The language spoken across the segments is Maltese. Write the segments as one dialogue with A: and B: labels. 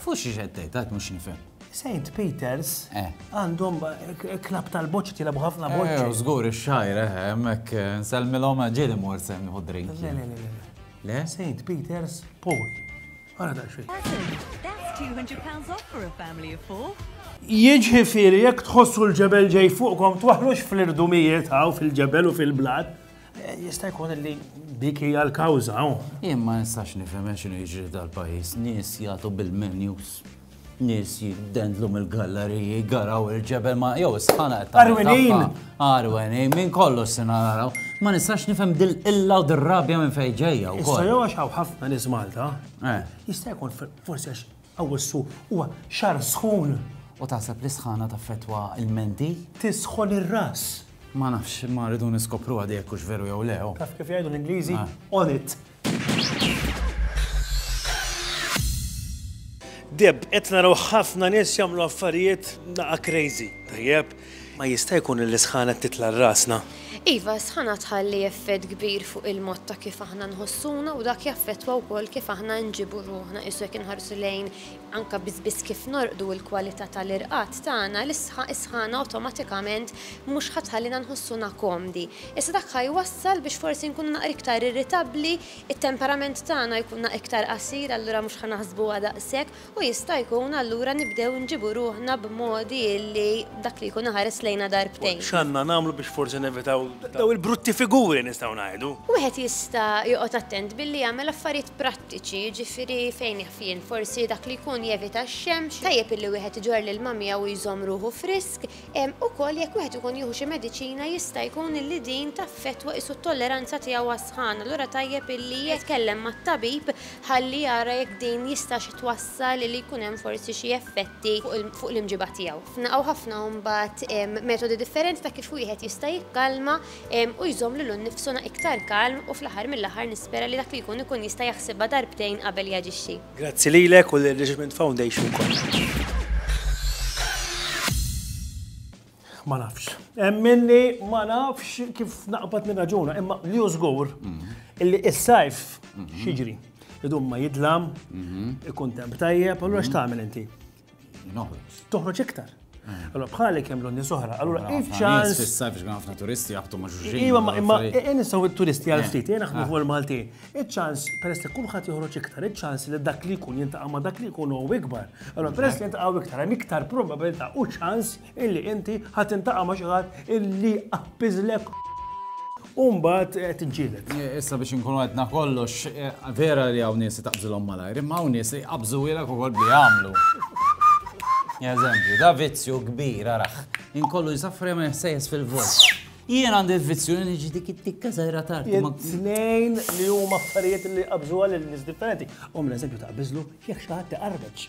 A: Fuq xiex qed tgħid, għad mhux nifhem. St. Peters eh. għandhom eh, klab tal-boċ tilabu ħafna eh, boċ. Eh, żgur ix-xajr, hemmhekk nsellmilhom ġieli mor se nieħu drink. Le, le, le, le. St. Peters Paul. Ara da xejn. Jiġifieri jekk tħossu l-ġebel ġej fuqkom twaħlux fl-irdumijiet hawn fil-ġebel u fil-blat. Jista' jkun li dik hija l-kawża hawn. Jien ma nistax nifhem għax x'inhu jiġri f'dal-pajjiż. Nies jagħtu bil-menus, nies jiddendlu mill-galleriji, jgaraw il-ġebel ma jew is-sħana qed tagħmel tagħha. Għarwenin! Għarwenin, minn kollox se naraw. Ma nistax nifhem dil-qilla u dir-rabja minn fejn ġejja wkoll. Issa jew għax hawn ħafna nies Malta, jista' jkun forsi għax Awwissu huwa xahar sħun. U taħseb li s-sħana taffettwa l-menti? Tisħon ir-ras. Ma nafx, imma rridu niskopruha di jekk hux veru jew le. Taf kif jgħidu l-Ingliżi? On it! Deb, qed naraw ħafna nies jagħmlu affarijiet naqa' crazy. Tajjeb, Ma jista' jkun li l-isħana qed titla' r-rasna? Iva, s-sħana tħalli effett kbir fuq il-mod ta' kif aħna nħossuna u dak jaffettwa wkoll kif aħna nġibu ruħna. Qiesu jekk inħarsu lejn anke biss biss kif norqdu u l-kwalità tal-irqad tagħna, is-sħana awtomatikament mhux ħa tħallina nħossuna komdi. Iżda dak ħa jwassal biex forsi nkunu naqra iktar irritabbli, it-temperament tagħna jkunna iktar qasir allura mhux ħa naħsbuha daqshekk u jista' jkun allura nibdew nġibu ruħna b'modi li dak li jkun ħares lejna darbtejn. X'għandna nagħmlu biex forsi nevitaw dawn il-brutti figuri nistgħu ngħidu? Wieħed jista' joqgħod attent billi jagħmel affarijiet prattiċi, jiġifieri fejn jaf jien, forsi dak li jkun jevita x-xemx, tajjeb illi wieħed iġorr l-ilma miegħu u jżomm ruħu frisk, Ukoll jekk wieħed ikun jieħu xi mediċina jista' jkun illi din taffettwa qisu t-tolleranza tiegħu għas-sħana, allura tajjeb illi jitkellem mat-tabib ħalli jara jekk din jistax twassal illi jkun hemm forsi xi effetti fuq l-imġiba tiegħu. Hawn ħafna mbagħad metodi differenti ta' kif wieħed jista' jikkalma u jżomm lilu nnifsu iktar kalm u fl-aħħar mill-aħħar nispera li dak li jkun ikun jista' jaħsibha darbtejn qabel jaġixxi. Grazzi lilek u lir-Richmond Foundation kollha. Ma nafx. Emminni ma nafx kif naqbad nirraġuna, imma li hu żgur illi is-sajf xiġri. Idum ma jidlam, ikun temp tajjeb, allura x'tagħmel inti? Toħroġ iktar. Eh. Allora bħalek hemm l-onni soħra, allora if ċans. Fissa biex għan ħafna turisti jaqbtu ma' ġuġin. Iva, ma' imma nistaw il-turisti għal eh. ftit, jena ħmu fuq il-Malti. Iċ-ċans, peress li kulħadd joħroġ iktar, iċ-ċans li dak li jkun jintaqa' ma' dak li jkun u ikbar. Allora peress li jintaqa' iktar, hemm iktar probabilità u ċans illi inti ħa tintaqa' ma' xi ħadd illi jqappiżlek u mbagħad qed tiġġieled. Issa biex inkunu għedna kollox, vera li hawn nies taqbżilhom malajr, imma hawn nies jqabżuhielek ukoll bli jagħmlu. Eżempju, da vizzju kbir araħ, inkollu jisafri ma jħsejjes fil-vot. Jien għandi l-vizzju li niġi dik it-tikka żgħira tard. Tnejn li huma affarijiet li qabżuha lil nies differenti. Hom l-eżempju ta' biżlu jekk xi ħadd iqarreġ.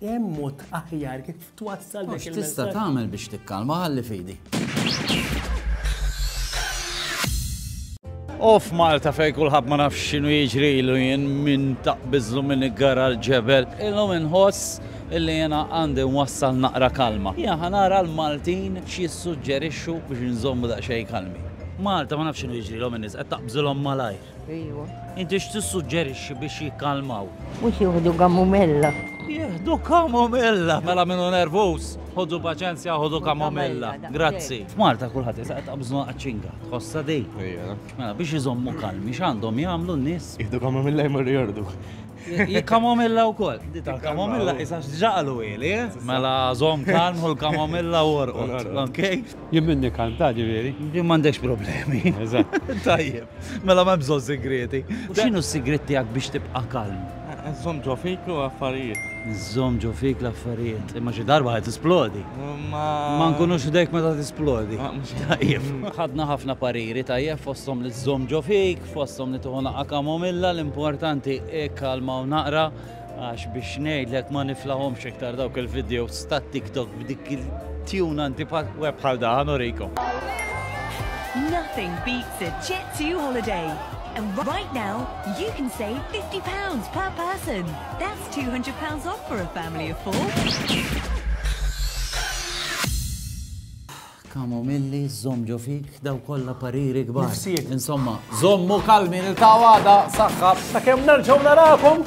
A: Hemm mod aħjar kif twassal dak il-messaġġ. Tista' tagħmel biex tikkalma ħalli fidi. Off Malta fej kulħadd ma nafx x'inhu jiġri ilu jien minn taqbiżlu minn iggara l-ġebel. Illum inħoss illi jena għandi wassal naqra kalma. Ja ħanara l-Maltin xie suġġerixxu biex nżommu daqsxejn kalmi. Malta ma nafx x'inhu jiġri l-om in-nies qed taqbżilhom malajr. Ejwa. Inti x'tissuġġerixxi biex jikkalmaw? Mhux jieħdu kamomilla. Jieħdu kamomilla, mela minnu nervuż, ħodu paċenzja, ħodu kamomilla. Grazzi. F'Malta kulħadd jisaq ta' bżonn qaċċinga, tħossa dej. Mela biex iżommu kalmi x'għandhom jagħmlu n-nies? Jieħdu kamomilla jmorru jordu. Kamomilla wkoll. Dita kamomilla isa x'ġaqalu ili, eh? Mela żomm kalm u l-kamomilla u orqod. Ok? Jien minni kalm ta' ġifieri. Jien m'għandekx problemi. Eżatt. Tajjeb. Mela m'hemm bżonn sigrieti. X'inhu s-sigriet tiegħek biex tibqa' kalm? Żomm ġo fik u affarijiet. Żomm ġo fik l-affarijiet. Imma xi darba ħad tisplodi. Ma. Ma nkunux ħdejk meta tisplodi. Tajjeb. Ħadna ħafna pariri tajjeb fosthom li żżomm ġo fik. Fosthom li tieħu naqqa' kamomilla, l-importanti ikkalmaw naqra għax biex ngħidlek ma niflahomx iktar dawk il-videos tat-TikTok b'dik il-tune anti-password bħal daħan urikom. Nothing beats a Jet2 holiday. And right now, you can save £50 per person. That's £200 off for a family of four. Kamomilli, żomm ġo fik, daw kollha pariri kbar. Nifsijiet. Insomma, żommu kalmi niltaqgħu għada, saħħa. Sakemm nerġgħu narakom!